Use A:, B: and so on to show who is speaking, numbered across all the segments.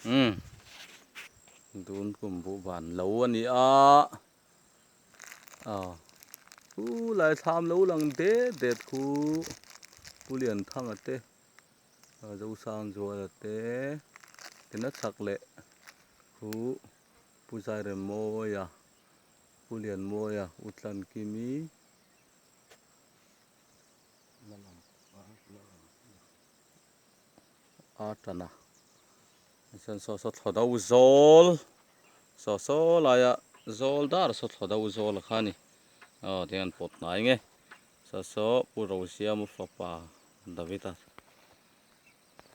A: Umm. Dun kum buh van lo a ni a. Aw. U Laithlam lo lang det det khu Pu Lianthanga te, Zosang Zuala te, tina chak leh khu Pu Zairem Mawia, Pu Lian Mawia, U Tlan Kimi, a tan a chuan saw saw thlawh deuh zawl saw saw laia zawl dar saw thlawh deuh zawl kha a ni aw tiang an pawt hnai nge saw saw pu Rozia Muhlawpa Davita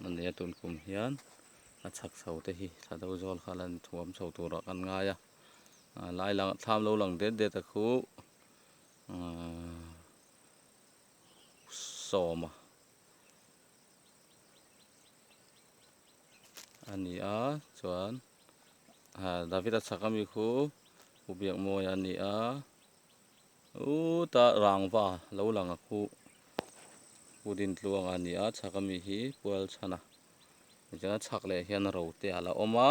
A: a ni a tun kum hian a chhak chho te hi thlawh deuh zawl kha la ni thuam chho turah kan ngai a lai lang thlam lo lang det det a khu sawma a ni a chuan Davida chhaka mi khu Pu Biakmawia a ni a uta rangva lo langa khu Pu Dintluanga a ni a chhaka mi hi Pualchhana tichuan a chhak leh hian rote ala awm a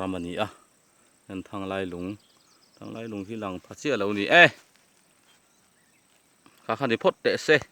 A: ram a ni a heng thanglai lung thanglai lung hi lang pha chiah lo ni e kha kha ni phawt teh se.